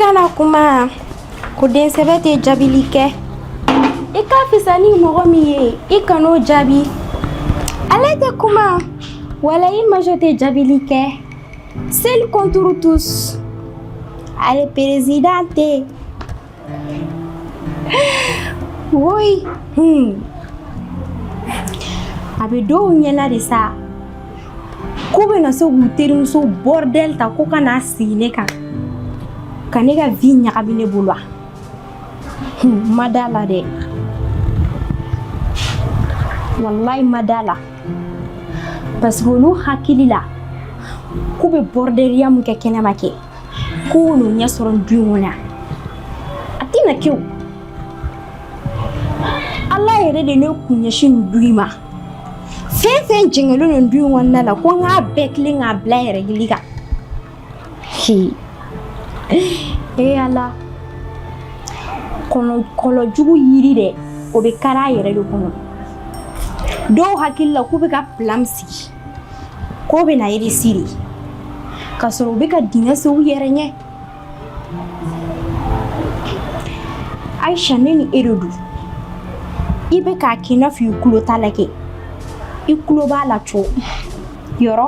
kana kuma ko den sɛbɛ tɛ jaabili kɛ i ka fisa ni mɔgɔ min ye i kan'o jaabi ale tɛ kuma wala i majo tɛ jaabili kɛ Seule contre tous. Allez, présidente. Oui. Hmm. A bɛ dɔw ɲɛna de sa k'u bɛna se k'u terimuso bɔrdɛli ta ko ka n'a sigi ne kan ka ne ka vie ɲagami ne bolo wa n ma d'a la dɛ walayi n ma d'a la parce que olu hakili la k'u bɛ bɔrɔdɛriya mun kɛ kɛnɛma kɛ k'u n'o ɲɛ sɔrɔ du in kɔnɔ a tɛna kɛ o ala yɛrɛ de ne kun ɲɛsin nin du in ma fɛn fɛn jɛngɛlen don du in kɔnɔna la ko n k'a bɛɛ tilen k'a bila yɛrɛ gili kan e ala kɔlɔn jugu yiri dɛ o bɛ kari a yɛrɛ de kɔnɔ dɔw hakili la k'u bɛ ka plan sigi k'o bɛna réussir k'a sɔrɔ u bɛ ka dingɛ sen u yɛrɛ ɲɛ ayisa ne ni e de don i bɛ k'a kɛ i n'a fɔ i tulo t'a la kɛ i tulo b'a la cogo yɔrɔ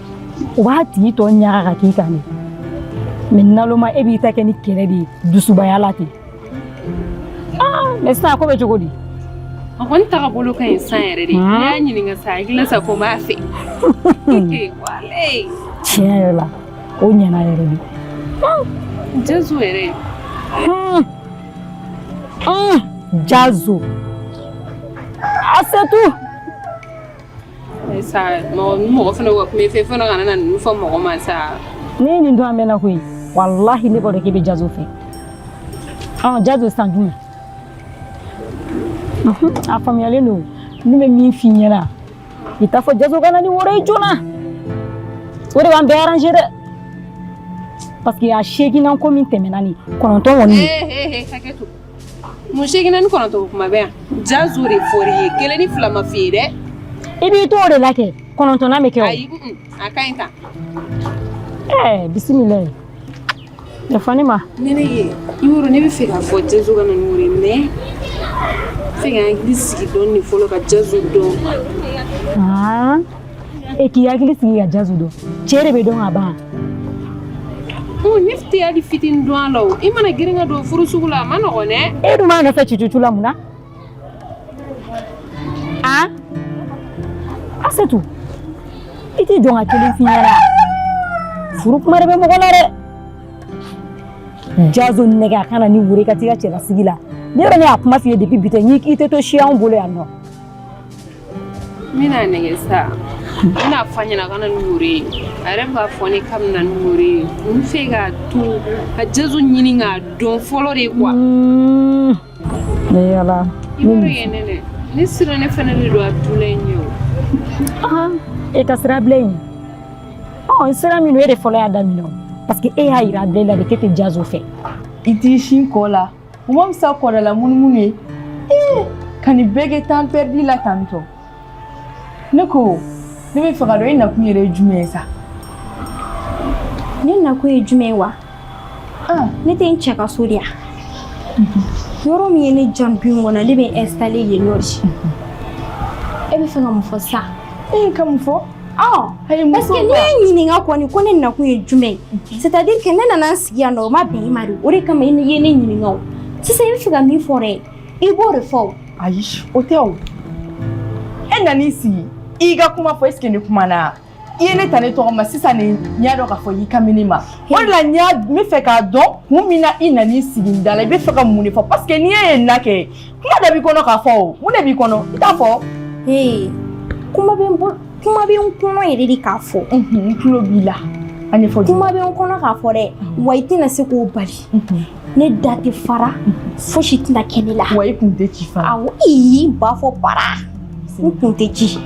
o b'a tigi tɔ ɲaga ka k'i kan de mais naloma e b'i ta kɛ ni kɛlɛ de ye dusubaya la ten mais sisan ko bɛ cogo di a kɔni tagabolo ka ɲi san yɛrɛ de ne y'a ɲininka sa hakili sa ko n b'a fɛ tiɲɛ yɛrɛ la o ɲɛna yɛrɛ de jazu yɛrɛ jazu asetu sa mɔgɔ fana wa kuma fɛ fana kana na ninnu fɔ mɔgɔ ma sa ne n'i don an mɛnna koyi walahi ne b'a dɔn k'i bɛ jazo fɛ ɔ jazo san jumɛn a faamuyalen don ne bɛ min f'i ɲɛna i t'a fɔ jazo ka na ni woro ye joona o de b'an bɛɛ arranger dɛ parce que a seeginnan ko min tɛmɛna ni kɔnɔntɔn kɔni Mun seeginnan ni kɔnɔntɔn kuma bɛ yan jazo de fɔr'i ye kelen ni fila ma f'i ye dɛ i b'i to o de la kɛ kɔnɔntɔnnan bɛ kɛ a ka ɲi tan bisimila yafa ne ma ne ne ye i woro ne b'a fɛ k'a fɔ jazo ka na ni woro ye mais f'i ka hakili sigi dɔɔnin fɔlɔ ka jazo dɔn e k'i hakili sigi ka jazu dɔn cɛ de bɛ dɔn ka ban ne tɛ hali fitinin dɔn a la o i mana girin ka don furu sugu la a ma nɔgɔn dɛ e dun b'a nɔfɛ cucucu la mun na a asetu i tɛ jɔ n ka kelen f'i ɲɛna furu kuma de bɛ mɔgɔ la dɛ jazu nɛgɛ a ka na ni woro i ka t'i ka cɛlasigi la ne yɛrɛ ne y'a kuma f'i ye depuis bi tɛ n'i k'i tɛ to si anw bolo yan nɔ N bɛna nɛgɛ sa n bɛna fɔ a ɲɛna ka na ni woro ye a yɛrɛ b'a fɔ ne k'a bɛ na ni woro ye n fɛ k'a to ka jazu ɲini k'a dɔn fɔlɔ de quoi mm. yala i b'a dɔn yɛn nɛnɛ ne sira ne fana de don a tula in ye o e ka sira bila in ɔ sira min don e de fɔlɔ y'a daminɛ parce que e y'a yira a bɛɛ la de k'e tɛ jazu fɛ i t'i sin ko la O ma fisa kɔrɔla munumunu ye ee ka nin bɛɛ kɛ temps perdu la tantɔ ne ko ne bɛ fɛ k'a dɔn e nakun yɛrɛ ye jumɛn ye sa ne nakun ye jumɛn ye wa ah ne tɛ n cɛ ka so de yan yɔrɔ min ye ne diya du in kɔnɔ ne bɛ n installer yen nɔ de e bɛ fɛ ka mun fɔ sa ka mun fɔ ɲininka ko ne nakun ye jumɛn ye ne nana n sigi yan o ma bɛn i ma o de kama i ye ne ɲininka sisan i bɛ fɛ ka min fɔ dɛ i b'o de fɔ ayi o tɛ o e nana i sigi i ka kuma fɔ est-ce que ne kumana i ye ne ta ne tɔgɔ ma sisan nin n y'a dɔn k'a fɔ i kan bɛ ne ma o de la n y'a n bɛ fɛ k'a dɔn kun min na i nana i sigi n da la i bɛ fɛ ka mun de fɔ parce que n'i ye na kɛ kuma dɔ b'i kɔnɔ k'a fɔ o mun de b'i kɔnɔ i t'a fɔ ee kuma bɛ n bolo kuma bɛ n kɔnɔ yɛrɛ de k'a fɔ n tulo b'i la a ɲɛfɔ kuma bɛ n kɔnɔ k'a fɔ dɛ wa i tɛna se k'o bali ne da tɛ fara fosi tɛna kɛ ne la wa i kun tɛ ci fara awɔ i b'a fɔ para n kun tɛ ci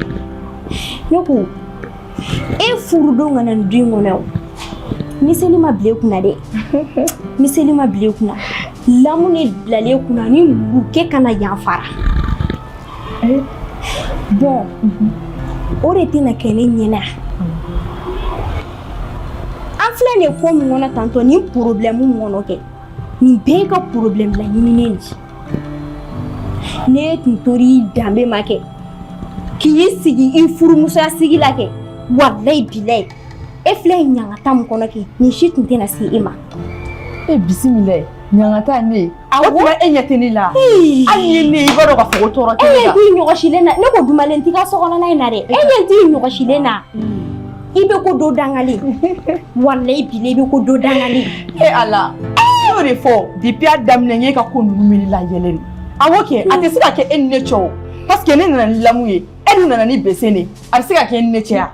ne ko E furudon ka na du in kɔnɔ miseli ma bila e kunna dɛ miseli ma bila e kunna lamu de bilalen e kunna ni muru kɛ kana yanfara bɔn o de tɛna kɛ ne ɲɛna an filɛ de ko min kɔnɔ tantɔ ni problème min kɔnɔ kɛ nin bɛɛ ka problème bila ɲinin ci n'e tun tor'i danbe ma kɛ k'i sigi i furumusoya sigi la kɛ walayi bilayi e filɛ ɲangata min kɔnɔ kɛ nin si tun tɛna se e ma e bisimilayi ɲangata ne o tuma e ɲɛ tɛ ne la hali ni ne ye i b'a dɔn k'a fɔ ko tɔɔrɔ tɛ ne la e ɲɛ t'i ɲɔgɔsilen na ne ko dumalen t'i ka so kɔnɔna in na dɛ e ɲɛ t'i ɲɔgɔsilen na I bɛ ko dɔn dangalen walahi bilahi i bɛ ko dɔn dangalen e Ala y'o de fɔ depuis a daminɛ ye ka ko ninnu la yɛlɛ awɔ kɛ a tɛ se ka kɛ e ni ne cɛ paseke ne nana ni lamu ye e dun nana ni bese de a tɛ se ka kɛ e ni ne cɛ yan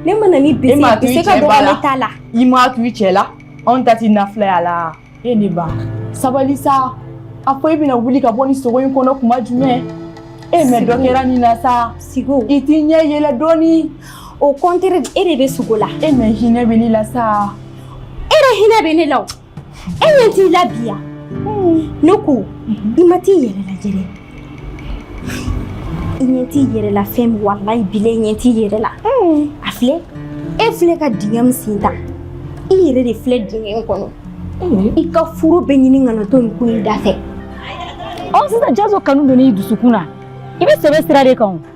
ne ma na ni bese ka dɔgɔ ne t'a la i ma to i cɛ la anw ta t'i nafilaya la E ne ba sabali sa a fɔ e bɛna wuli ka bɔ nin sugo in kɔnɔ kuma jumɛn e mɛ dɔ kɛra nin na sa sigo i t'i ɲɛ yɛlɛ dɔɔni au contraire e de bɛ sugo la e mɛ hinɛ bɛ ne la sa e de hinɛ bɛ ne la o e ɲɛ t'i la bi ya ne ko i ma t'i yɛrɛ lajɛ dɛ i ɲɛ t'i yɛrɛ la fɛn min walayi bilayi i ɲɛ t'i yɛrɛ la a filɛ e filɛ ka dingɛ min sen ta i yɛrɛ de filɛ dingɛ in kɔnɔ i ka furu bɛ ɲini ka na to nin ko in da fɛ ɔ sisan jazo kanu donn'i dusukun na i bɛ sɛbɛ sira de kan o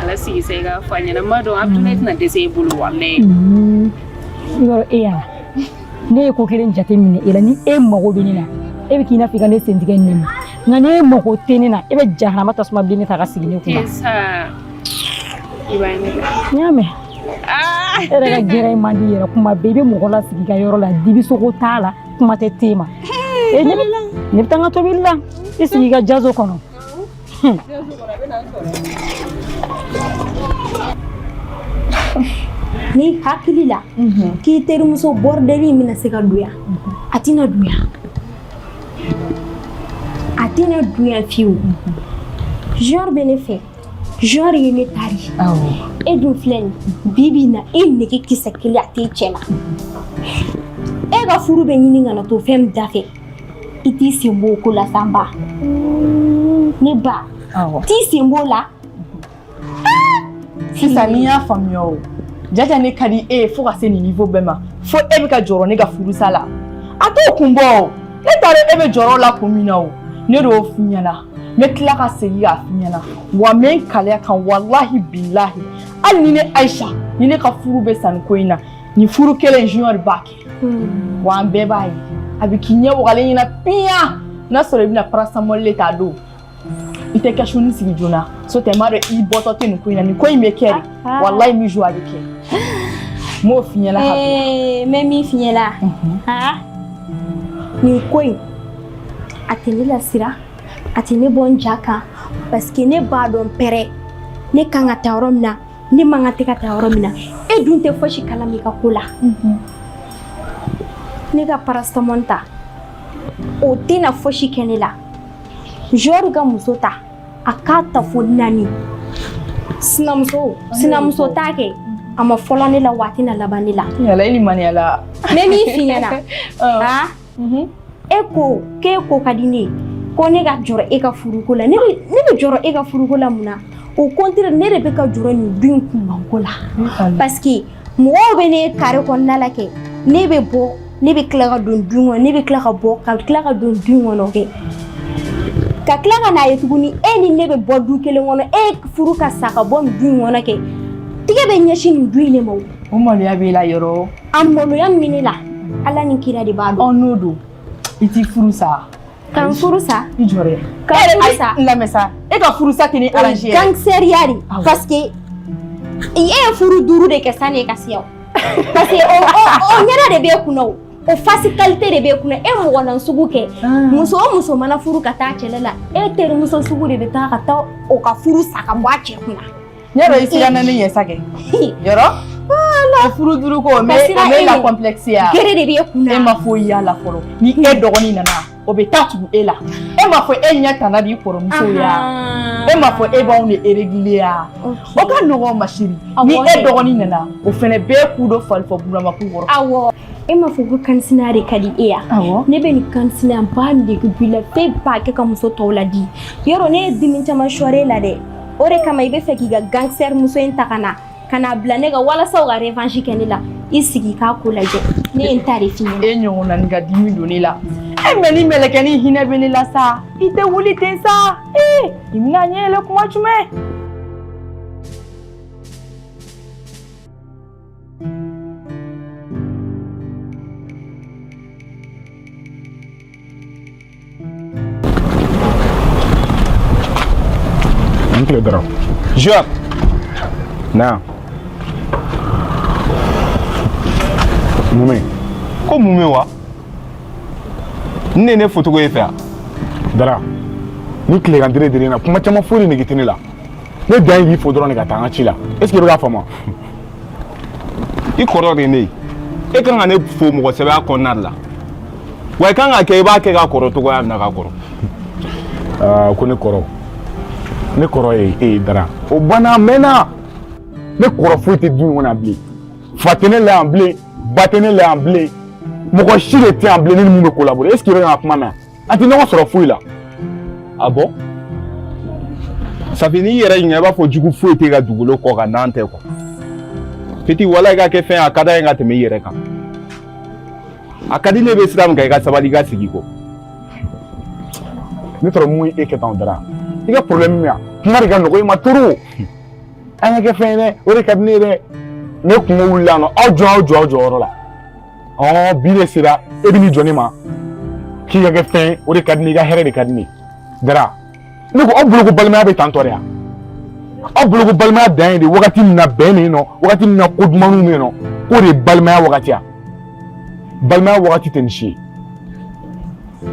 a lasigi sa i k'a fɔ a ɲɛna n b'a dɔn a tun tɛna dɛsɛ e bolo walayi i b'a dɔn e yan ne ye ko kelen jate minɛ e la ni e mago bɛ ne na e bɛ k'i na f'i ka ne sentigɛ ne ma nka n'e mago tɛ ne na e bɛ jahanama tasuma bilen ne ta ka sigi ne kunna n y'a mɛn ah! e yɛrɛ ka gɛrɛ in man di yɛrɛ kuma bɛɛ i bɛ mɔgɔ lasigi i ka yɔrɔ la dibisogo t'a la kuma tɛ te ma e ne bɛ taa n ka tobili la i sigi i ka jazo kɔnɔ n'i hakili la mhm. k'i terimuso bɔrɔdɛli in bɛna se ka don yan mhm. a tɛna don yan a tɛna don yan fiyewu junior mhm. bɛ ne fɛ junior ye ne ta de ye e dun filɛ nin bi bi in na e nege kisɛ kelen a tɛ cɛ la e ka furu bɛ ɲini ka na to fɛn min da fɛ i t'i sen b'o ko la sa n ba ne ba t'i sen b'o la sisan n'i y'a faamuya o jaja ne ka di e ye fo ka se nin niveau bɛɛ ma fo e bɛ ka jɔrɔ ne ka furusa la a t'o kun bɔ o ne t'a dɔn e bɛ jɔrɔ la kun min na o ne de y'o f'i ɲɛna n bɛ tila ka segin k'a f'i ɲɛna wa n bɛ n kali a kan walahi bilahi hali ni ne ayisa ni ne ka furu bɛ sa nin ko in na nin furu kelen junior b'a kɛ hmm. wa an bɛɛ b'a ye a bɛ k'i ɲɛ wagalen ɲɛna piyan n'a sɔrɔ i bɛna paracetamol le ta don i tɛ kɛsuni sigi joona so tɛ n b'a dɔn i bɔtɔ tɛ nin ko in na nin ko in bɛ kɛ de ah. walayi mi jo a bɛ kɛ n b'o f'i ɲɛna ka bila eh, n bɛ min f'i ɲɛna mhm. ah. nin ko in a tɛ ne lasira a tɛ ne bɔ n ja kan parce que ne b'a dɔn pɛrɛ ne kan ka taa yɔrɔ min na ne mankan tɛ ka taa yɔrɔ min na e dun tɛ fosi kalama n ka ko la ne ka paracetamol ta o tɛna fosi kɛ ne la jɔri ka muso ta a k'a ta fo naani sinamuso sinamuso ta kɛ a ma fɔlɔ ne la wa a tɛna laban ne la. Yala i limaniya la. Ne m'a f'i ɲɛna. Ɔn. Han. e ko k'e ko ka di ne ye ko ne ka jɔrɔ e ka furuko la ne bɛ jɔrɔ e ka furuko la mun na au contraire ne de bɛ ka jɔrɔ nin du in kunbanko la parce que mɔgɔw bɛ ne kare kɔnɔna la kɛ ne bɛ bɔ ne bɛ tila ka don du kɔnɔ ne bɛ tila ka bɔ ka tila ka don du kɔnɔ kɛ ka tila ka n'a ye tuguni e ni ne bɛ bɔ du kelen kɔnɔ e furu ka sa ka bɔ nin du in kɔnɔ kɛ tigɛ bɛ ɲɛsin nin du in de ma O maloya b'i la yɔrɔ o. A maloya min bɛ ne la, Ala ni kira de b'a dɔn. Ɔ n'o don, i t'i furu sa. Ka n furu sa? I jɔ dɛ. Ka n furu sa? N lamɛn sa, e ka furu sa tɛ ne arranger yɛrɛ. Gangsteriya de, parce que e ye furu duuru de kɛ sani e ka se yan o. Parce que o o o ɲɛda de b'e kun na o. O face qualité de b'e kun na, e mɔgɔ na sugu kɛ. Muso o muso mana furu ka taa cɛla la, e terimuso sugu de bɛ taa ka taa o ka furu sa ka bɔ a cɛ kun na. Yɔrɔ i siranna ne ɲɛ sa kɛ yɔrɔ o furu duuru ko o mais là complexe ya gere de b'e kun na e ma foyi y'a la fɔlɔ ni e dɔgɔnin nana o bɛ taa tugu e la e ma fɔ e ɲɛ tana b'i kɔrɔmuso ye e ma fɔ e b'anw de régler ya o ka nɔgɔn ma chérie ni e dɔgɔnin nana o fɛnɛ bɛ k'u dɔ fali fɔ Burama kun kɔrɔ awɔ e ma fɔ ko kansina de ka di e ya ne bɛ nin kansina ba nege b'i la f'e b'a kɛ ka muso tɔw la di yɔrɔ ne ye dimi caman sɔrɔ e la dɛ o de kama i bɛ fɛ k'i ka gangster muso in ta ka na ka n'a bila ne kan walasa o ka revanche kɛ ne la i sigi k'a ko lajɛ ne ye n ta de f'i ɲɛna e ɲɔgɔnna nin ka dimi don ne la e mais nin mɛlɛkɛnin hinɛ bɛ ne la sa i tɛ wuli ten sa ee i bɛna ɲɛ yɛlɛ kuma jumɛn I ni tile Dara. Juwa. Na. Mun bɛ? Ko mun bɛ wa? Ne ne foto ko e fɛ yan. Dara. Nin tilegan dire dire na kuma caman foyi de nege tɛ ne la. Ne dan ye k'i fo dɔrɔn de ka taa an ka ci la. Est ce que i bɛ k'a faamu wa? i kɔrɔ de ne ye e kan ka ne fo mɔgɔ sɛbɛya kɔnɔna de la wa i kan k'a kɛ i b'a kɛ ka kɔrɔ cogoya min na ka kɔrɔ ah, ko ne kɔrɔ ne kɔrɔ ye e ye dara o banna a mɛnna ne kɔrɔ foyi tɛ du in kɔnɔ bilen fa tɛ ne la yan bilen ba tɛ ne la yan bilen mɔgɔ si de tɛ yan bilen ne ni mun bɛ collaborer est ce que i bɛ ka kuma mɛn an tɛ ɲɔgɔn sɔrɔ foyi la ah bon ça fait n'i yɛrɛ ɲininka i b'a fɔ jugu foyi tɛ ka dugukolo kɔ kan n'an tɛ quoi petit walayi i ka kɛ fɛn a ka d'an ye ka tɛmɛ i yɛrɛ kan a ka di ne bɛ sira min kan i ka sabali i ka sigi quoi ne tɔrɔ mun ye e kɛ tan o dara i ka problème min ya kuma de ka nɔgɔ i ma trop an ka kɛ fɛn ye dɛ o de ka di ne ye dɛ ne kungo wulila nɔ aw jɔ aw jɔ aw jɔyɔrɔ la ɔ bi de sera e bɛ n'i jɔ ne ma k'i ka kɛ fɛn o de ka di ne ye i ka hɛrɛ de ka di ne ye dara ne ko aw bolo ko balimaya bɛ tantɔ de yan aw bolo ko balimaya dan ye de wagati min na bɛn bɛ yen nɔ wagati min na ko dumanw bɛ yen nɔ k'o de ye balimaya wagati ye balimaya wagati tɛ nin si ye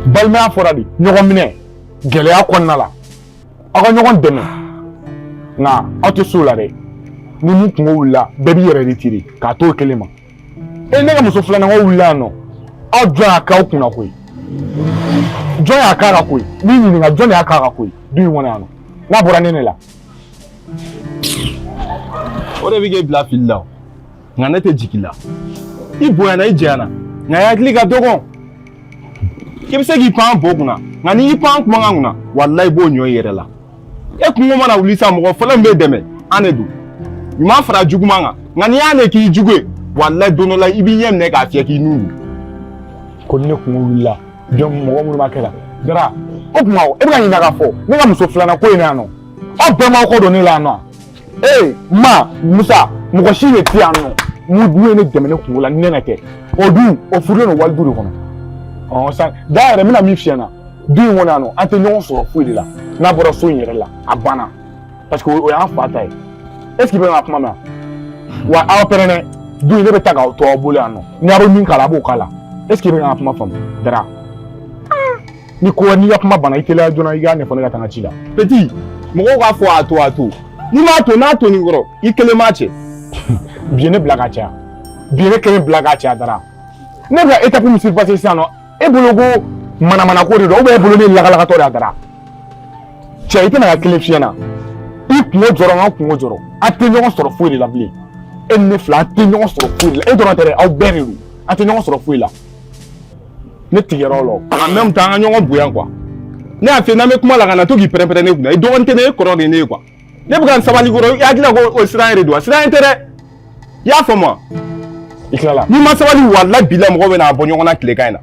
balimaya fɔra de ɲɔgɔn minɛ gɛlɛya kɔnɔna la aw ka ɲɔgɔn dɛmɛ nka aw tɛ s'o la dɛ ni min kungo wulila bɛɛ b'i yɛrɛ retiré k'a t'o kelen ma e ne ka muso filanan ko wulila yan nɔ aw jɔn y'a k'aw kunna ko ye jɔn y'a k'a ka ko ye n'i ɲininka jɔn de y'a k'a ka ko ye du in kɔnɔ yan nɔ n'a bɔra ne ne la o de bɛ k'e bila fili la o nka ne tɛ jigin la i bonyana i janyana nka i hakili ka dɔgɔn i bɛ se k'i pan bo kunna nka n'i y'i pan kumakan kunna walayi i b'o ɲɔ i yɛrɛ la e kungo mana wuli sa mɔgɔ fɔlɔ min b'e dɛmɛ an de don ɲuman fara juguman kan nka n'i y'an de k'i jugu ye walayi don dɔ la i b'i ɲɛ minɛ k'a fiyɛ k'i nun don ko ni ne kungo wulila jɔn mɔgɔ minnu b'a kɛ la dara o tuma e bɛ ka ɲininka k'a fɔ ne ka muso filanan ko in na yan nɔ aw bɛɛ m'aw kɔ don ne la yan nɔ ee ma musa mɔgɔ si de tɛ yan nɔ min ye ne dɛmɛ ne kungo la ni ne ka kɛ o dun o furulen don wali du de kɔnɔ ɔ san da yɛrɛ n bɛna min f'i ɲɛna du in kɔnɔ yan nɔ an tɛ ɲɔgɔn sɔrɔ foyi de la n'a bɔra so in yɛrɛ la a banna parce que o y'an fa ta ye est ce que i bɛ ka kuma mɛn wa aw pɛrɛn dɛ du in ne bɛ taa k'a to aw bolo yan nɔ ni aw bɛ min k'a la aw b'o k'a la est ce que i bɛ ka kuma faamu dara. ni ko n'i ka kuma banna i teliya joona i k'a ɲɛfɔ ne ka taa n ka ci la. petit mɔgɔw k'a fɔ a to a to n'i m'a to n'a tonna i kɔrɔ i kelen b'a cɛ. bi ye ne bila ka caya bi ye ne kelen bila ka caya dara ne bɛ ka étape min surpasser sisan nɔ e bolo ko manamanako de don ou bien e bolo ne lagalagatɔ de y'a dara cɛ n bɛna kan kelen f'i ɲɛna i kungo jɔrɔ n ka kungo jɔrɔ an tɛ ɲɔgɔn sɔrɔ foyi de la bilen e ni ne fila an tɛ ɲɔgɔn sɔrɔ foyi de la e dɔrɔn tɛ dɛ aw bɛɛ de don an tɛ ɲɔgɔn sɔrɔ foyi la. ne tigɛra o la o en même temps an ka ɲɔgɔn bonya quoi ne y'a f'i ye n'an bɛ kuma la kana to k'i pɛrɛnpɛrɛn ne kunna i dɔgɔnin tɛ ne ye i kɔrɔ de ye ne ye quoi ne bɛ ka n sabali kɔrɔ i hakili la ko o siran yɛrɛ don wa siran tɛ dɛ i y'a faamu wa i tilala n'i ma sabali walayi bilayi mɔgɔ bɛn'an bɔ ɲɔgɔn na tilegan in na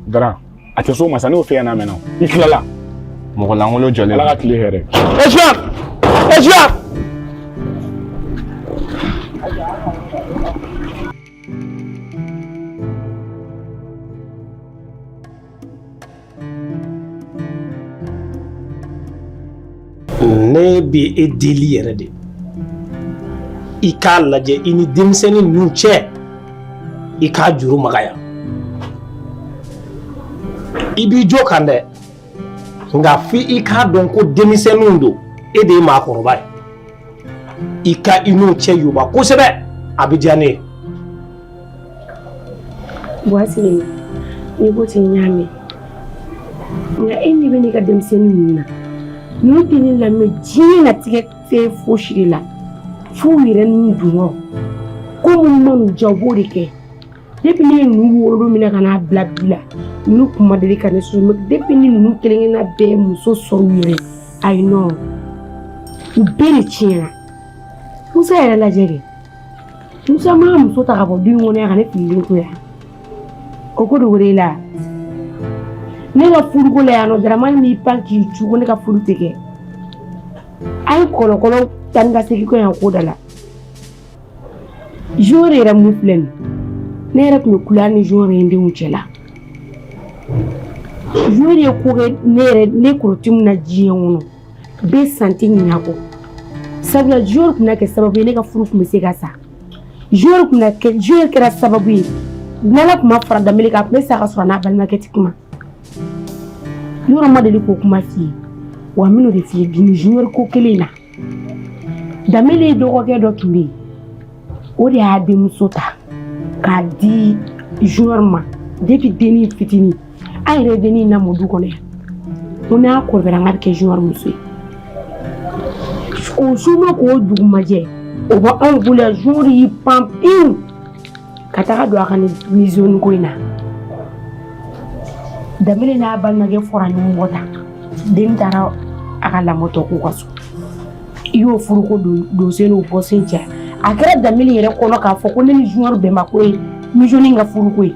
dara a tɛ s'o ma sa ne y'o f'i ɲɛna a mɛnna o i tilala mɔgɔ lankolon jɔlen ala ka tile hɛrɛ esuya esuya Ne bɛ e deli yɛrɛ de i k'a lajɛ i ni denmisɛnnin ninnu cɛ i k'a juru magaya i b'i jo kan dɛ nka fo i k'a dɔn ko denmisɛnninw don e de ye maakɔrɔba ye i ka i n'u cɛ yoba kosɛbɛ a bɛ diya ne ye. Baasi tɛ n'i ko ten n y'a mɛn nka e ɲɛ bɛ ne ka denmisɛnnin ninnu na ninnu tɛ ne lamɛn diɲɛ latigɛ fɛn fosi de la f'u yɛrɛ n'u dungɔ ko min man'u diya u b'o de kɛ. depuis ne ye ninnu wolo minɛ ka n'a bila bi la ninnu kun ma deli ka ne sɔrɔ mais depuis ni ninnu kelenkelenna bɛɛ ye muso sɔrɔ u yɛrɛ ayi non u bɛɛ de tiɲɛna musa yɛrɛ lajɛ dɛ musa ma muso ta ka bɔ du in kɔnɔ yan ka ne fililen to yan o ko dogo de la ne ka furuko la yan nɔ daramani b'i pan k'i cu ko ne ka furu tɛ kɛ a ye kɔlɔkɔlɔ tani ka segin ko yan ko da la Junior yɛrɛ min filɛ nin ne yɛrɛ tun bɛ kula ni Junior ye denw cɛ la Junior ye ko kɛ ne yɛrɛ ne kɔrɔti min na diɲɛ kɔnɔ bɛ sa n ti ɲinɛ kɔ sabula Junior tun kɛ sababu ye ne ka furu tun bɛ se ka sa Junior tun kɛ Junior kɛra sababu ye n'ala tun ma fara danbele kan a tun bɛ sa ka sɔrɔ n'a balimakɛ ti kuma yɔrɔ ma deli k'o kuma f'i ye wa n bɛn'o de f'i ye bi nin junior ko kelen in na Danbele ye dɔgɔkɛ dɔ tun bɛ yen o de y'a denmuso ta k'a di Junior ma depuis dennin fitinin an yɛrɛ ye dennin lamɔ du kɔnɔ yan ko n'a kɔrɔbayara n k'a bɛ kɛ Junior muso ye o su ma ko dugu ma jɛ o bɛ anw bolo yan Junior y'i pan pewu ka taga don a ka nin musonin ko in na Danbele n'a balimakɛ fɔra ɲɔgɔn kɔ tan den taara a ka lamɔ tɔ k'u ka so i y'o furuko donsen n'o bɔsen cɛ a kɛra Danbele yɛrɛ kɔnɔ k'a fɔ ko ne ni junior bɛnmako ye musonin ka furuko ye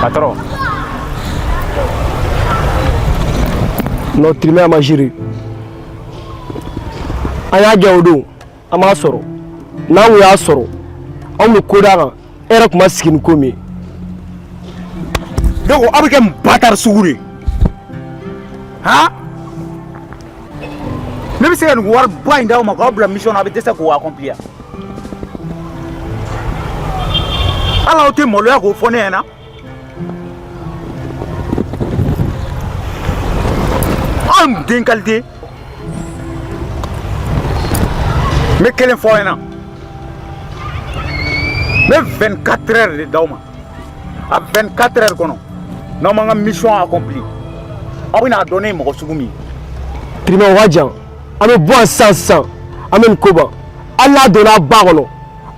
Patron. Non vraiment a ma géré. An y'a jɛ o don an m'a sɔrɔ n'an kun y'a sɔrɔ anw bɛ ko d'a kan e yɛrɛ tun ma sigi ni ko min ye donc aw bɛ kɛ mun bâtard sugu de ye han ne bɛ se ka nin wari ba in d'aw ma k'aw bila mission na a bɛ dɛsɛ k'o accomplir hali aw tɛ maloya k'o fɔ ne ɲɛna Anw den qualité n bɛ kelen fɔ aw ɲɛna n bɛ 24 heures de d'aw ma a 24 heures kɔnɔ n'aw ma n ka mission accompli aw bɛna a dɔn ne ye mɔgɔ sugu min ye. Tiriman o ka jan an bɛ bɔ yan sisan sisan an bɛ nin ko ban hali n'a donna a ba kɔnɔ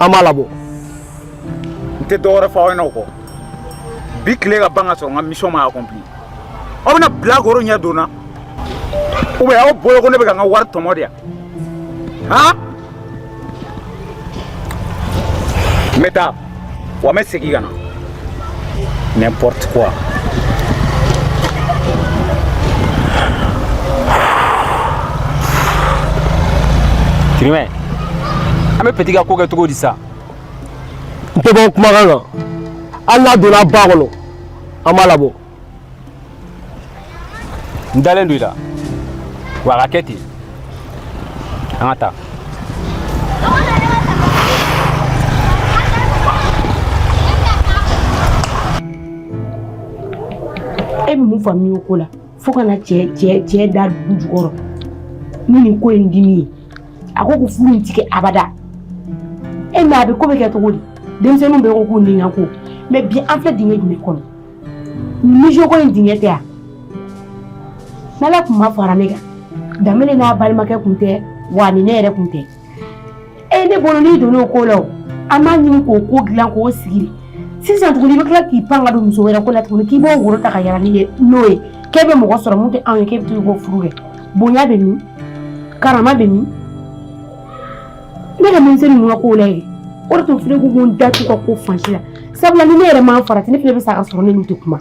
an b'a labɔ. n tɛ dɔ wɛrɛ fɔ aw ɲɛna o kɔ bi tile ka ban ka sɔrɔ n ka mission ma accompli aw bɛna bilakoro ɲɛ donna ou bien aw bolo ko ne bɛ ka n ka wari tɔmɔ de yan han n bɛ taa wa n bɛ segin ka na n'importe quoi Kirimɛ an bɛ petit ka ko kɛ cogo di sa n tɛ bɔ kumakan kan hali n'a donna a ba kɔnɔ an b'a labɔ n dalen don i la wa a ka kɛ ten an ka taa e bɛ mun faamuya o ko la fo ka na cɛ cɛ cɛ da dugu jukɔrɔ ni nin ko in dimi ye a ko ko furu in tigɛ abada e mɛ a bɛ ko bɛ kɛ cogo di denmisɛnninw bɛ ko k'u ni ka ko mɛ bi an filɛ dingɛ jumɛn kɔnɔ musoko in dingɛ tɛ yan n'ala tun ma fara ne kan Danbele n'a balimakɛ kun tɛ wa ni ne yɛrɛ kun tɛ e ne bolo n'i donn'o ko la o an b'a ɲini k'o ko dilan k'o sigi sisan tuguni i bɛ tila k'i pan ka don muso wɛrɛ ko la tuguni k'i b'o woro ta ka yala n'i ye n'o ye k'e bɛ mɔgɔ sɔrɔ mun tɛ anw ye k'e bɛ to k'o furu kɛ bonya bɛ min karama bɛ min ne ka denmisɛnnin ninnu ka kow la ye o de tun filɛ ko n da t'u ka ko fan si la sabula ni ne yɛrɛ ma n farati ne fana bɛ sa ka sɔrɔ ne n'u tɛ kuma.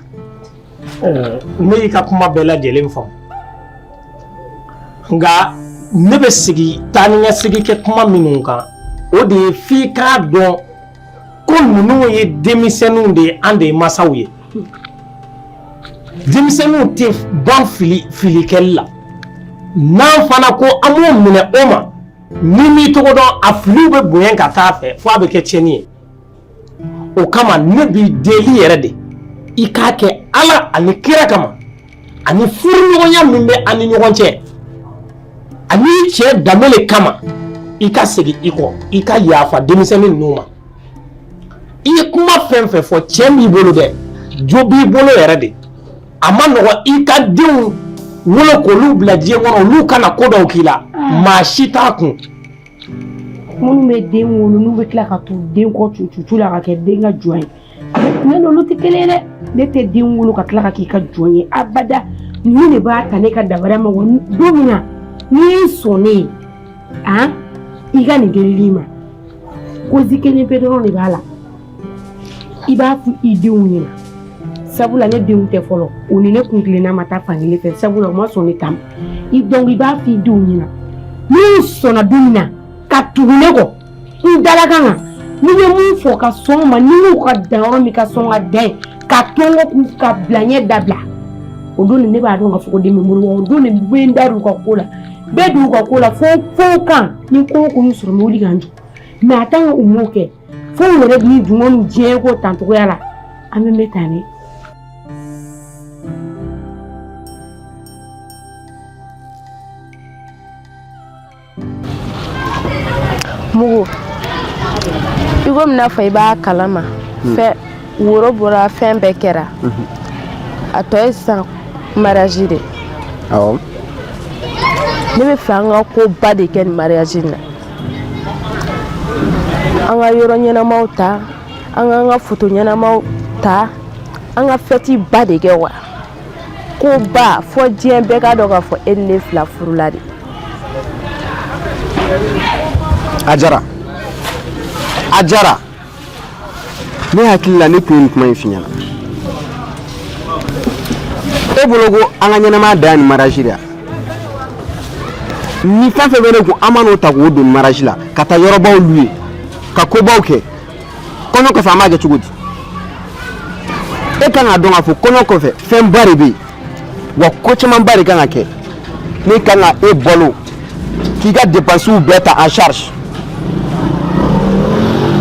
ne y'i ka kuma bɛɛ lajɛlen faamu nka ne bɛ sigi taa ni ka segin kɛ kuma minnu kan o de ye f'i k'a dɔn ko ninnu ye denmisɛnninw de ye an de ye masaw ye denmisɛnninw tɛ ban filikɛli la n'an fana ko an b'o minɛ o ma n'i m'i tɔgɔ dɔn a filiw bɛ bonya ka taa fɛ fo a bɛ kɛ tiɲɛni ye o kama ne b'i deli yɛrɛ de i k'a kɛ ala ani kira kama ani furuɲɔgɔnya min bɛ an ni ɲɔgɔn cɛ ani cɛ danbe de kama i ka segin i kɔ i ka yafa denmisɛnnin ninnu ma i ye kuma fɛn fɛn fɔ tiɲɛ b'i bolo dɛ jo b'i bolo yɛrɛ de a ma nɔgɔn i ka denw wolo k'olu bila diɲɛ kɔnɔ olu ka na ko dɔw k'i la maa si t'a kun minnu bɛ den wolo n'u bɛ tila ka t'u den kɔ cucu la ka kɛ den ka jɔn ye ne n'olu tɛ kelen ye dɛ ne tɛ den wolo ka tila ka k'i ka jɔn ye abada nin de b'a ta ne ka dabara ma don min na n'i ye sɔn ne ye a i ka nin delili ma kozi kelen pe dɔrɔn de b'a la i b'a fɔ i denw ɲɛna sabula ne denw tɛ fɔlɔ o ni ne kuntilenna ma taa fan kelen fɛ sabula o ma sɔn ne ta ma donc i b'a fɔ i denw ɲɛna n'u sɔnna don min na ka tugu ne kɔ n dalakan na n'i bɛ min fɔ ka sɔn o ma n'i y'u ka dan yɔrɔ min ka sɔn ka dan yen ka tɔnko k'u ka bila ɲɛ dabila o don de ne b'a dɔn ka fɔ ko den bɛ n bolo o don ne bɛ n da don u ka ko la bɛɛ don u ka ko la fo fo kan ni ko o ko y'u sɔrɔ n bɛ wuli ka n jɔ mɛ a tant que u m'o kɛ fo u yɛrɛ b'i dun ko nin diɲɛ ko tancogoya la an bɛ mɛn tan ne mugu i komi n'a fɔ i b'a kalama hmm. fɛ woro bɔra fɛn bɛɛ kɛra hmm. a tɔ ye sisan mariage de awɔ ne b'a fɛ an ka koba de kɛ nin mariage in na an ka yɔrɔ ɲɛnamaw ta an k'an ka foto ɲɛnamaw ta an ka fɛti ba de kɛ wa koba fo diɲɛ bɛɛ k'a dɔn k'a fɔ e ni ne fila furula de ajara ajara ne hakili la ne tun ye nin kuma in f'i ɲɛna e bolo ko an ka ɲɛnamaya dan ye nin maraji de ye ni fɛn fɛn bɛ ne kun an man'o ta k'o don maraji la ka taa yɔrɔbaw luwe ka kobaw kɛ kɔɲɔ kɔfɛ an b'a kɛ cogo di e kan k'a dɔn k'a fɔ kɔɲɔ kɔfɛ fɛnba de bɛ yen wa ko camanba de kan ka kɛ ne kan ka e balo k'i ka depansiw bɛɛ ta en charge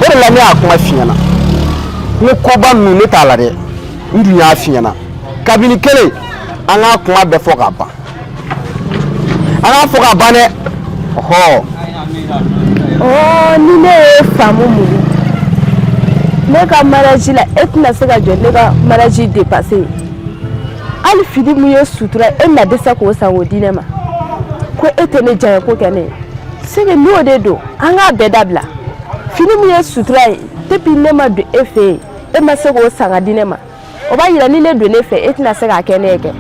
o de la ne y'a kuma f'i ɲɛna n ko koba ninnu ne t'a la dɛ n dun y'a f'i ɲɛna kabini kelen an k'a kuma bɛɛ fɔ k'a ban an k'a fɔ k'a ban dɛ ɔhɔ ɔɔ ni ne y'a faamu mugu ne ka maraji la e tɛna se ka jɔ ne ka maraji depansi ye hali fini min ye sutura ye e mana dɛsɛ k'o san k'o di ne ma ko e tɛ ne diyanya ko kɛ ne ye c'est que n'o de don an k'a bɛɛ dabila fini min ye sutura ye depuis ne ma don e fɛ yen e ma se k'o san ka di ne ma o b'a yira ni ne donna e fɛ e tɛna se k'a kɛ ne ye kɛ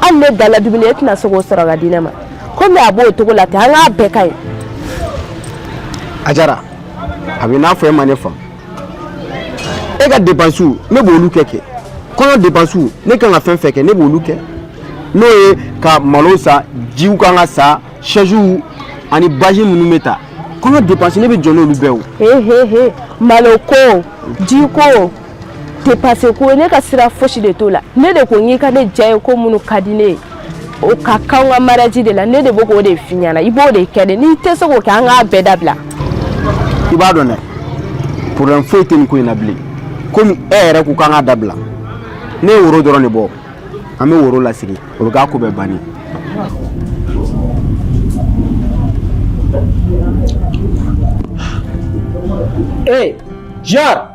hali ne dala dumuni e tɛna se k'o sɔrɔ ka di ne ma komi a b'o cogo la ten an k'a bɛɛ ka ɲi ajara a bɛ n'a fɔ e ma ne faamu e ka depansiw ne b'olu kɛ kɛ kɔɲɔ depansiw ne kan ka fɛn fɛn kɛ ne b'olu kɛ n'o ye ka malo san jiw kan ka san sɛziw ani bâche minnu bɛ ta kɔɲɔ depansi ne bɛ jɔ n'olu bɛɛ o he he he malo ko ji ko te passé ko ne ka sira fosi de t'o la ne de ko n k'i ka ne diyanye ko minnu ka di ne ye o ka kɛ an ka mariage de la ne de bɛ k'o de f'i ɲɛna i b'o de kɛ dɛ n'i tɛ se k'o kɛ an k'a bɛɛ dabila i b'a dɔn dɛ problème foyi tɛ nin ko in na bilen komi e yɛrɛ ko k'an k'a dabila ne ye woro dɔrɔn de bɔ an bɛ woro lasegin o bɛ k'a ko bɛɛ banni ee jar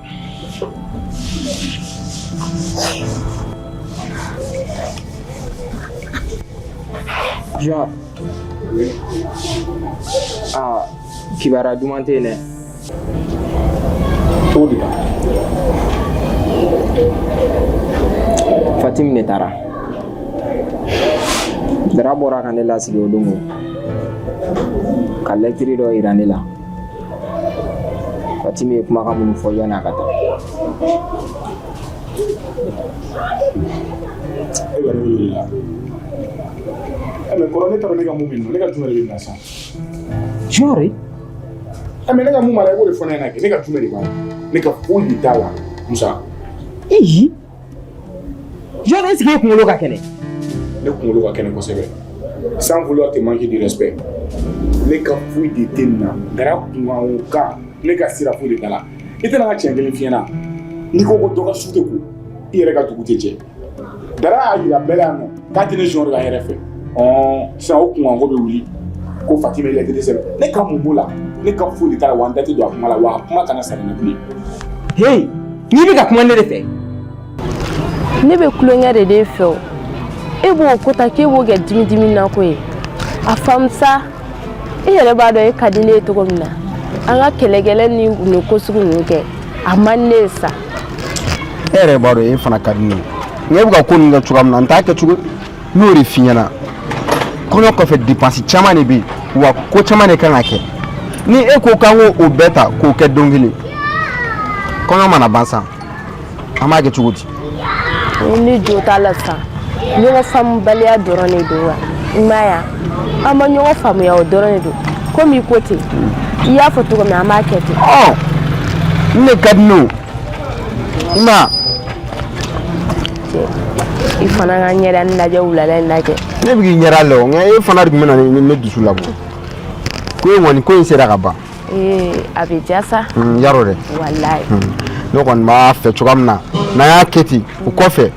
Jɔn aa kibaruya duman tɛ yen dɛ cogo di Fatimi de taara Dara bɔra ka ne lasigi o don ka lɛtiri dɔ yira ne la Fatimi ye kumakan minnu fɔ yanni a ka taa e bɛ ne wele la ɛ mais kɔrɔ n'a taara ne ka mun bɛ nin na ne ka jumɛn de bɛ nin na sa Jɔɔri ɛ mais ne ka mun b'a la i b'o de fɔ ne ɲɛna kɛ ne ka jumɛn de b'a la ne ka foyi de t'a la Musa eyi Jɔɔri est-ce qu'i kunkolo ka kɛnɛ ne kunkolo ka kɛnɛ kosɛbɛ sans vouloir te manquer de respect ne ka foyi de tɛ nin na Dara kuma o kan ne ka sira foyi de t'a la i tɛ na n ka tiɲɛ kelen f'i ɲɛna n'i ko ko dɔ ka su tɛ ko i yɛrɛ ka dugu tɛ jɛ Dara y'a jira bɛɛ la yan k'a tɛ ne sɔn de ka yɛrɛ fɛ sisan o kunkan ko bɛ wuli ko Fatimi ye lɛtiri sɛbɛn ne ka mun b'o la ne ka foyi t'a la wa n da tɛ don a kuma la wa a kuma kana sara ne bilen. heyi n'i bɛ ka kuma ne de fɛ. ne bɛ tulonkɛ de e fɛ o e b'o ko ta k'e b'o kɛ dimi dimi na ko ye a faamu sa e yɛrɛ b'a dɔn e ka di ne ye cogo min na an ka kɛlɛkɛlɛ ni nin ko sugu ninnu kɛ a man di ne ye sa. e yɛrɛ b'a dɔn e fana ka di ne ye e bɛ ka ko ninnu kɛ cogoya min na n t'a kɛ cogo n y'o de f'i ɲɛna kɔɲɔ kɔfɛ depansi caman de bɛ yen wa ko caman de ka kan ka kɛ ni e ko k'an k'o bɛɛ ta k'o kɛ don kelen kɔɲɔ mana ban sa an b'a kɛ cogo di. ni jo t'a la sisan ɲɔgɔn faamubaliya dɔrɔn de don wa i m'a ye wa. an ma ɲɔgɔn faamuya o dɔrɔn de don komi i ko ten i y'a fɔ cogo min an b'a kɛ ten ɔ ne ka di ne o i ma i fana ka ɲɛda nin lajɛ wulada in lajɛ ne bɛ k'i ɲɛda lɛ o nka e fana de tun bɛ na ni ne dusu labɔ ko in o ni ko in sera ka ban ee a bɛ diya sa yarɔ dɛ walayi ne kɔni b'a fɛ cogoya min na n'an y'a kɛ ten o kɔfɛ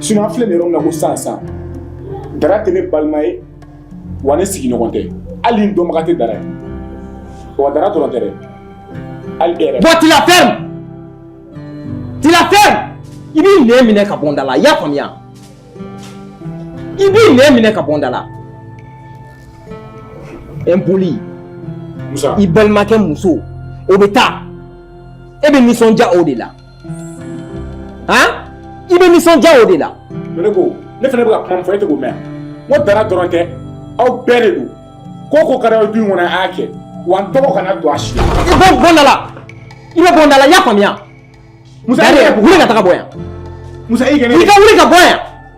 Sinon a filɛ yɔrɔ min na ko san san Dara tɛ ne balima ye wa ne sigiɲɔgɔn tɛ hali n dɔnbaga tɛ Dara ye wa Dara dɔrɔn tɛ tu la fermes tu la fermes i b'i nɛn minɛ ka bɔ n da la i y'a faamuya i b'i nɛn minɛ ka bɔ n da la impoli i balimakɛ muso o bɛ taa e bɛ nisɔndiya o de la han i bɛ nisɔndiya o de la ne ko ne fana bɛ ka kuma min fɔ e tɛ k'o mɛn n ko Dara dɔrɔn tɛ aw bɛɛ de don ko o ko ka d'aw ye du in kɔnɔ a y'a kɛ wa n tɔgɔ kana don a si la i bɛ bɔ n da la i bɛ bɔ n da la i y'a faamuya Musa, Dare, i yɛrɛ- wuli ka taga bɔ yan Musa i kɛnɛ i ka wuli ka bɔ yan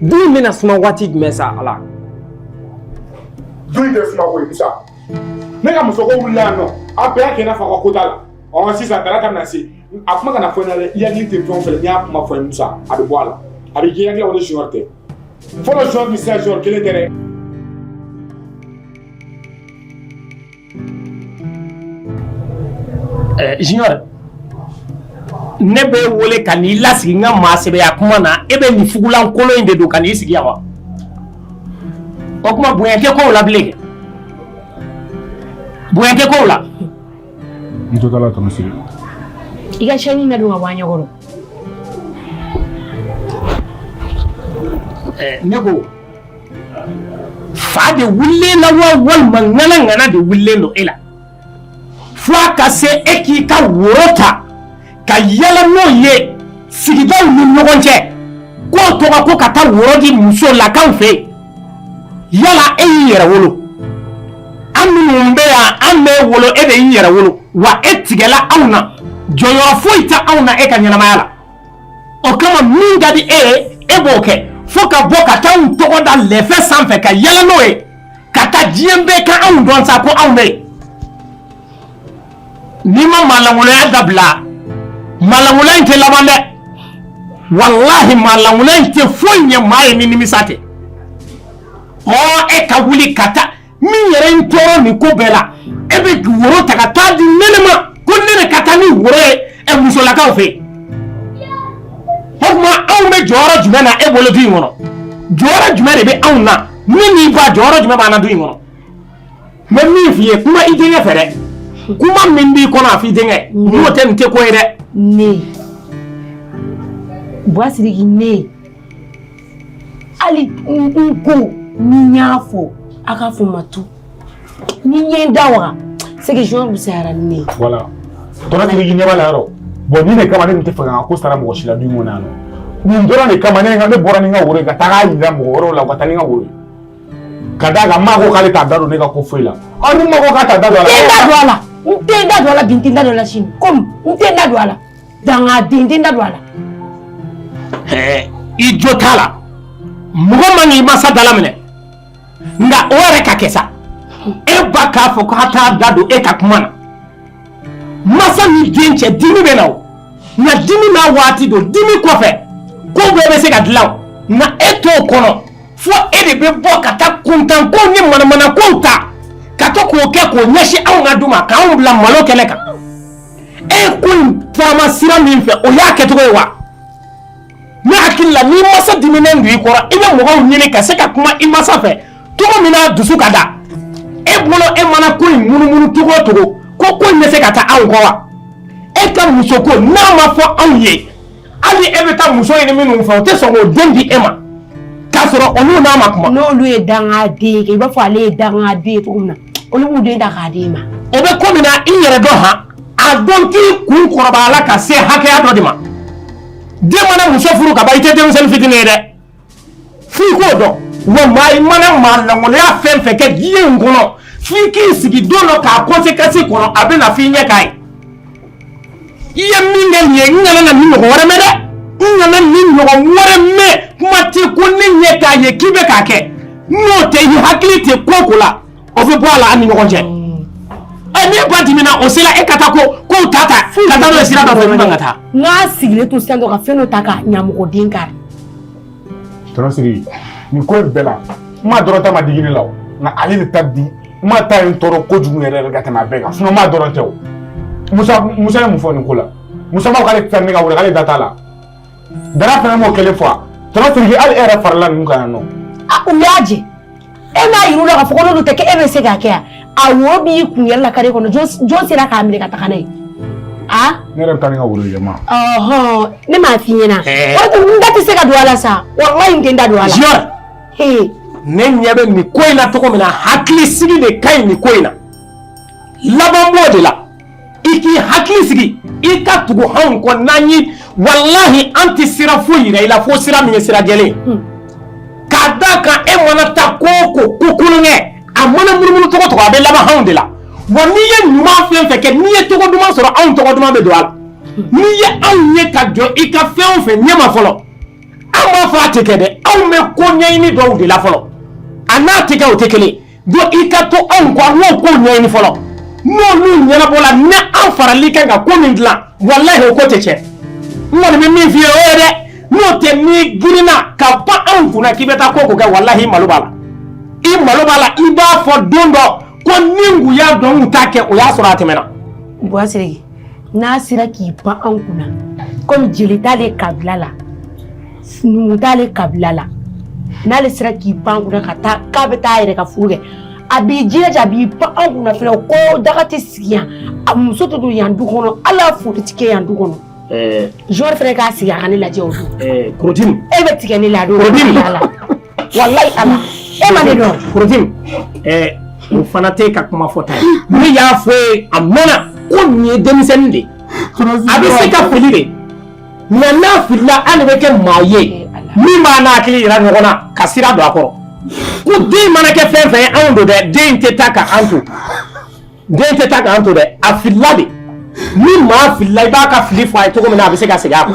Du in bɛna suma waati jumɛn sa Ala? Du in tɛ suma koyi Musa. Ne ka musoko wulila yan nɔ, a bɛɛ y'a kɛ i n'a fɔ a ka ko t'a la. Ɔ sisan Dara ka na se, a kuma kana fɔ n na dɛ, i hakili tɛ fɛn o fɛn la, n'i y'a kuma fɔ n ye Musa, a bɛ bɔ a la. A bɛ k'i hakili la ko ne junior tɛ. Fɔlɔ junior ni sisan junior kelen tɛ dɛ. Junior ne b'e wele ka n'i lasigi n ka maasɛbɛya kuma na e bɛ nin fugulan kolon in de don ka n'i sigi yan wa o tuma bonya tɛ kow la bilen bonya tɛ kow la n jo t'a la Tamasiri i ka chaine ladon ka bɔ an ɲɛkɔrɔ ne ko fa de wulilen na wa walima ŋana ŋana de wulilen don e la fo a ka se e k'i ka woro ta ka yaala n'o ye sigidaw ni ɲɔgɔn cɛ k'o tɔgɔ ko ka taa woro di musolakaw fɛ yen yala e y'i yɛrɛ wolo an minnu bɛ yan an m'e wolo e de y'i yɛrɛ wolo wa e tigɛla anw na jɔyɔrɔ foyi tɛ anw na e ka ɲɛnamaya la o kama min ka di e ye e b'o kɛ fo ka bɔ ka taa anw tɔgɔ da lɛfɛ sanfɛ ka yaala n'o ye ka taa diɲɛ bɛɛ ka anw dɔn sa ko anw bɛ yen n'i ma maalankolonya dabila maalankolonya in tɛ laban dɛ walahi maalankolonya in tɛ foyi ɲɛ maa ye ni nimisa tɛ ɔ e ka wuli ka taa min yɛrɛ ye n tɔɔrɔ nin ko bɛɛ la e bɛ woro ta ka taa di ne ma ko ne de ka taa ni woro ye ɛ musolakaw fɛ o tuma anw bɛ jɔyɔrɔ jumɛn na e bolo du in kɔnɔ jɔyɔrɔ jumɛn de bɛ anw na ne n'i ba jɔyɔrɔ jumɛn b'an na du in kɔnɔ n bɛ min f'i ye kuma i denkɛ fɛ dɛ kuma min b'i kɔnɔ a f'i denkɛ n'o tɛ nin tɛ ko ye dɛ ne Buwa Sidiki ne hali n ko ni n y'a fɔ a k'a fɔ ma to ni n ye n da waga c'est que jɔn fisayara ni ne ye. voilà tɔnɔ Siriki ɲɛ b'a la yɔrɔ bon nin de kama ne tun tɛ fɛ ka ko sara mɔgɔ si la du in na yan nɔ nin dɔrɔn de kama ne ka ne bɔra ni n ka woro ye ka taa k'a yira mɔgɔ wɛrɛw la u ka taa ni n ka woro ye ka d'a kan n ma ko k'ale t'a da don ne ka ko foyi la ɔ ni n ma ko k'a t'a da don a la. n tɛ n da don a la n tɛ n da don a la bi n tɛ n da don a la sini komi n tɛ n da don a la. dangaden n tɛ n da don a la. ɛɛ i jo t'a la mɔgɔ man k'i masa dala minɛ nka o yɛrɛ ka kɛ sa e ba k'a fɔ k'a t'a da don e ka kuma na masa ni den cɛ dimi bɛ na o nka dimi n'a waati don dimi kɔfɛ ko bɛɛ bɛ se ka dilan o nka e t'o kɔnɔ fo e de bɛ bɔ ka taa kuntankow ni manamanakow ta ka to k'o kɛ k'o ɲɛsin anw ka du ma k'anw bila malo kɛnɛ kan. e ko in taama sira min fɛ o y'a kɛcogo ye wa ne hakili la n'i masa diminen don i kɔrɔ i bɛ mɔgɔw ɲini ka se ka kuma i masa fɛ cogo min n'a dusu ka da e bolo e mana ko in munumunu cogo o cogo ko ko in bɛ se ka taa anw kɔ wa e ka muso ko n'a ma fɔ anw ye hali e bɛ taa muso ɲini minnu fɛ o tɛ sɔn k'o den di e ma k'a sɔrɔ olu n'an ma kuma n'olu ye dangaden ye i b'a fɔ ale ye dangaden ye cogo min na olu b'u den ta k'a d'e ma o bɛ ko min na i yɛrɛ dɔn han a dɔn k'i kunkolobaya la ka se hakɛya dɔ de ma den mana muso furu ka ban i tɛ denmisɛnnin fitinin ye dɛ f'i k'o dɔn wa maa i mana maa lankolonya fɛn fɛn kɛ diɲɛ in kɔnɔ f'i k'i sigi don dɔ k'a conséquence kɔnɔ a bɛ na f'i ɲɛ k'a ye i ye min kɛ nin ye n kana na nin ɲɔgɔn wɛrɛ mɛn dɛ n kana nin ɲɔgɔn wɛrɛ mɛn kuma tɛ ko ne ɲɛ k'a ye k'i bɛ k'a kɛ n'o tɛ i hakili tɛ ko ko la o bɛ bɔ a la an ni ɲɔgɔn cɛ ɛ ne ba dimina o sera e ka taa ko ko ta ta ka taa n'o ye sira dɔ fɛ n ka taa n k'a sigilen to sisan dɔrɔn ka fɛn dɔ ta ka ɲamɔgɔden kari Tɔnɔ Siriki nin ko in bɛɛ la n ma dɔrɔn ta ma digi ne la o nka ale de ta di n ma ta ye n tɔɔrɔ kojugu yɛrɛ ka tɛmɛ a bɛɛ kan sinon n ma dɔrɔn tɛ o Musa ye mun fɔ nin ko la Musa m'a fɔ k'ale tɛ taa ne ka wele k'ale da t'a la Dara fana m'o kelen fɔ tɔnɔ Siriki hali e yɛrɛ farala ninnu kan yan nɔ a u y'a jɛ E m'a yir'u la k'a fɔ ko n'olu t'a kɛ e bɛ se k'a kɛ a a woro b'i kun yaala carré kɔnɔ jɔn sera k'a minɛ ka taga n'a ye a. ne yɛrɛ bɛ taa ni n ka woro ye ma. ɔhɔn ne m'a f'i ɲɛna. ɛɛ o tuma n da tɛ se ka don a la sa walayi n tɛ n da don a la. jiyɔn. ee. ne ɲɛ bɛ nin ko in na cogo min na hakilisigi de ka ɲi nin ko in na laban b'o de la. i k'i hakili sigi i ka tugu anw kɔ n'an ye walahi an tɛ sira foyi yira i la fo sira min ye sira jɛlen ye hmm. k'a d'a kan e mana taa ko o ko ko kolon kɛ a mana munumunu cogo cogo a bɛ laban anw de la wa n'i ye ɲuman fɛn fɛn kɛ n'i ye tɔgɔ duman sɔrɔ anw tɔgɔ duman bɛ don a la hmm. n'i ye anw ye ka jɔ i ka fɛn o fɛn ɲɛma fɔlɔ an b'a fɔ a tɛ kɛ dɛ anw bɛ ko ɲɛɲini dɔw de la fɔlɔ a n'a tɛ kɛ o tɛ kelen ye Donc i ka to anw ko an ko ɲɛɲini fɔlɔ n'olu ɲɛnabɔla ni an farali kan ka ko min dilan walahi o ko tɛ tiɲɛ n kɔni bɛ min f'i ye o ye dɛ n'o tɛ n'i girinna ka pan anw kunna k'i bɛ taa ko o ko kɛ walahi i malo b'a la i malo b'a la i b'a fɔ don dɔ ko ni n tun y'a dɔn n t'a kɛ o y'a sɔrɔ a tɛmɛna n'a sera k'i pan anw kunna comme jeli t'ale kabila la numu t'ale kabila la n'ale sera k'i pan kunna ka taa k'a bɛ taa a yɛrɛ ka furu kɛ a b'i jilaja a b'i pan anw kunna fɛnɛ ko daga tɛ sigi yan a muso tɛ don yan du kɔnɔ hali a furu tɛ kɛ yan du kɔnɔ junior fɛnɛ k'a sigi a ka ne lajɛ o don Korotim e bɛ tigɛ ne la a don Korotim walayi ala e ma ne dɔn korotim ɛɛ o fana tɛ ka kuma fɔta ye ne y'a fɔ ye a mɛnna ko nin ye denmisɛnnin de ye a bɛ se ka fili de mais n'a filila an de bɛ kɛ maa ye min b'a n'a hakili yira ɲɔgɔn na ka sira don a kɔrɔ ko den mana kɛ fɛn fɛn ye anw don dɛ den tɛ taa ka an to dɛ a filila de ni maa filila i b'a ka fili fɔ a ye cogo min na a bɛ se ka segin a kɔ.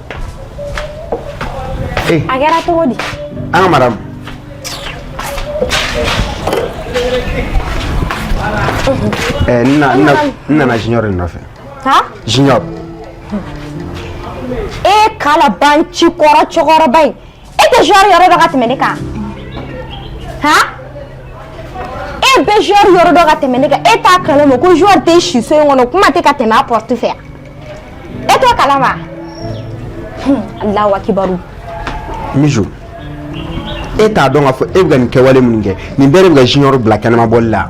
Eh. A kɛra cogo di? An ka madame. Ɛɛ n na n na n nana junior de nɔfɛ. Ha? Junior. E kalabanci kɔrɔ cɛkɔrɔba in. e tɛ junior yɔrɔ dɔn ka tɛmɛ ne kan ha e bɛ junior yɔrɔ dɔn ka tɛmɛ ne kan e t'a kalama ko junior tɛ si so in kɔnɔ kuma tɛ ka tɛmɛ a porte fɛ e t'o kalama Allahu akibaru Mijou e t'a dɔn k'a fɔ e bɛ ka nin kɛwale minnu kɛ nin bɛɛ de bɛ ka junior bila kɛnɛma bɔli la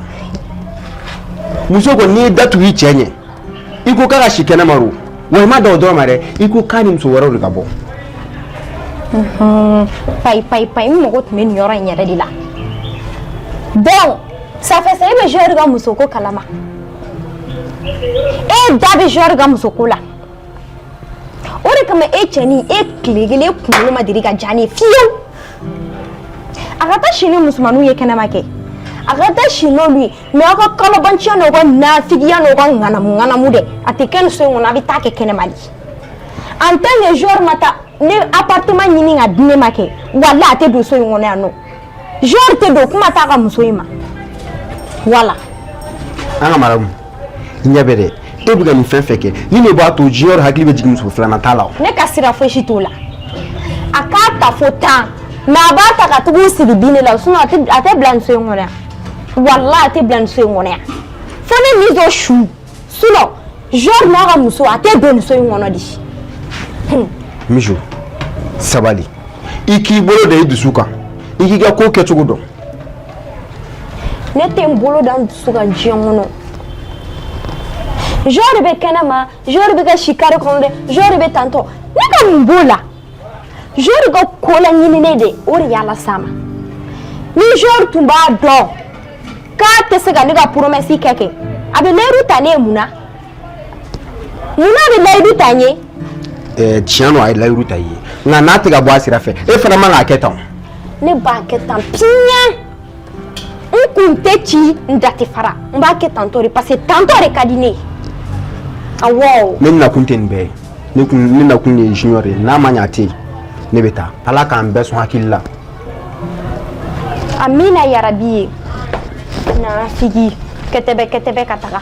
muso ko n'i ye da tugu i cɛ ɲɛ i ko k'a ka si kɛnɛma o wa i ma dan o dɔrɔn ma dɛ i ko k'a ni muso wɛrɛw de ka bɔ payi payi payi n mago tun bɛ nin yɔrɔ in yɛrɛ de la donc ça fait ça e bɛ junior ka muso ko kalama e da bɛ junior ka muso ko la o de kama e cɛnin e tile kelen e kunkolo ma deli ka diya ne ye fiyewu a ka taa si ni musomaninw ye kɛnɛma kɛ a ka taa si n'olu ye Mais aw ka kalabanciya n'aw ka nafigiya n'aw ka ŋanamu ŋanamu dɛ a tɛ kɛ nin so in kɔnɔ a bɛ taa kɛ kɛnɛma de en tant que junior ma taa ne appartement ɲini ka di ne ma kɛ walahi a tɛ don so in kɔnɔ yan nɔ junior tɛ don kuma t'a ka muso in ma voilà an ka madame ɲɛ bɛ dɛ e bɛ ka nin fɛn fɛn kɛ nin de b'a to junior hakili bɛ jigin muso filanan ta la o. ne ka sira fosi t'o la a k'a ta fo tan mais a b'a ta ka tugu sigi bin de la sinon a tɛ a tɛ bila nin so in kɔnɔ yan walahi a tɛ bila nin so in kɔnɔ yan fo ne mijo su sinon junior n'a ka muso a tɛ don nin so in kɔnɔ dɛ. Hmm. mijo sabali i k'i bolo da i dusu kan i k'i ka ko kɛcogo dɔn. ne tɛ n bolo da n dusu kan diɲɛ kɔnɔ junior bɛ kɛnɛma junior bɛ ka si carré kɔnɔ dɛ junior bɛ tantɔ ne ka mun b'o la junior ka ko laɲininen de o de y'a las'a ma ni junior tun b'a dɔn k'a tɛ se ka ne ka promesse kɛ kɛ a bɛ layidu ta ne ye mun na mun n'a bɛ layidu ta n ye. ɛɛ tiɲɛ don a ye layidu ta i ye nka n'a tɛ ka bɔ a sira fɛ e fana man k'a kɛ tan. ne b'a kɛ tan piɲɛ n kun tɛ ci n da tɛ fara n b'a kɛ tantɔ de parce que tantɔ de ka di ne ye awɔ. ne nakun tɛ nin bɛɛ ye ne kun ne nakun de ye junior ye n'a ma ɲɛ a tɛ yen ne bɛ taa ala k'an bɛɛ sɔn hakili la. amina yarabi ye nafigi kɛtɛbɛ kɛtɛbɛ ka taga.